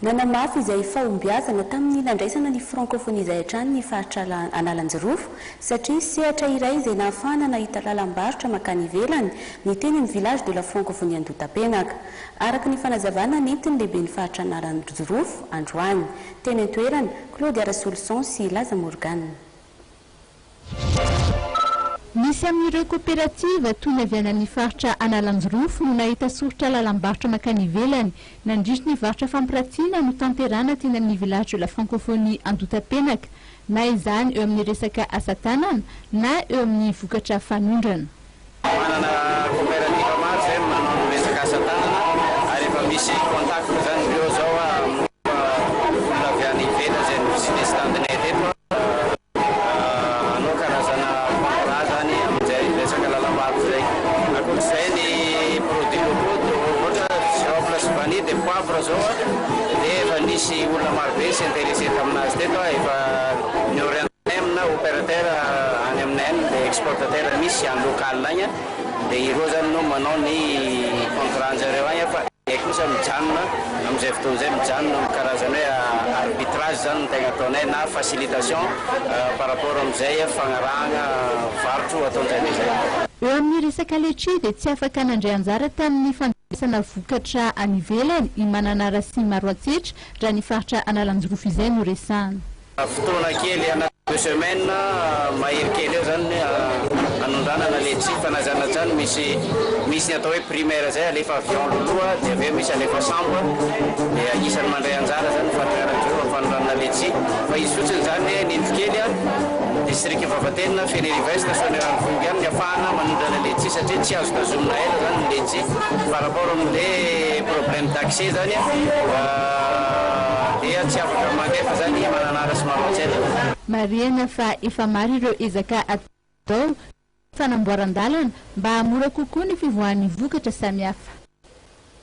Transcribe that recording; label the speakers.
Speaker 1: Nanamafy izay fahombiazana tamin'ny nandraisana ny Francophonie izay hatrany ny faritra Analanjirofo satria sehatra iray izay nahafahana nahita lalam-barotra mankany ivelany ny teny amin'ny Village de la Francophonie Andotapenaka. Araka ny fanazavana nentin'ny lehiben'ny faritra Analanjirofo androany, teny an-toerana, Claude Arasoloson sy Laza Morgane.
Speaker 2: Misy amin'ireo koperativa toy ny avy any amin'ny faritra Analanjirofo no nahita soritra lalam-barotra mankany ivelany nandritry ny varotra fampiratiana notanterahana teny amin'ny Village de la Francophonie Andotapenaka, na izany eo amin'ny resaka asa tanana na eo amin'ny vokatra fanondrana. Manana
Speaker 3: coopérative maro izay manao ny resaka asa tanana ary efa misy contact izany indreo izao aho amin'ny olona avy any ivelany izay no business stand-nay teto aho. Hanao karazana contrat izany amin'izay resaka lalam-bato izay. Ankoatr'izay ny produits locaux toa ohatra girofle sy vanille dia poivre izao dia efa nisy olona marobe s'intéresser tamin'azy teto aho efa niorian-. Em na operateur any amina em dia exportateur misy any local agny dia ireo zany no manao ny contrat anjareo agny fa dia kosa mijanona amizay fotoana zay mijanona am karazany hoe arbitrage zany no tegna ataonay na facilitation par rapport amizay fagnarahagna varotro ataonjareo zay. Eo amin'ny resaka
Speaker 2: letchie dia tsy afaka nandray anjara tamin'ny fandraisana vokatra any ivelany i Mananara sy Maroantsetra raha ny faritra Analanjirofo izay no resahana. Fotoana
Speaker 3: kely anaty deux semaines mahery kely eo zany ny hanondranana le tsy fanajana zany misy misy ny atao hoe primaire zay alefa avion loloha de aveo misy alefa sambo de agnisany mandray anjara zany fatriaranjreo am fanondranana le tsy fa izy fotsiny zany hoe ny indro kely a district vavatenina fenerive est soanieranofongo ihany ny afahana manondrana le tsy satria tsy azo tazomina ela zany ny le tsy par rapport am le problème d'accès zany a. Dia tsy afaka mandefa zany i Mananara sy Maroantsaina. Marihina
Speaker 2: fa efa maro ireo ezaka atao fanamboaran-dalana mba hahamora kokoa ny fivoahan'ny vokatra samihafa.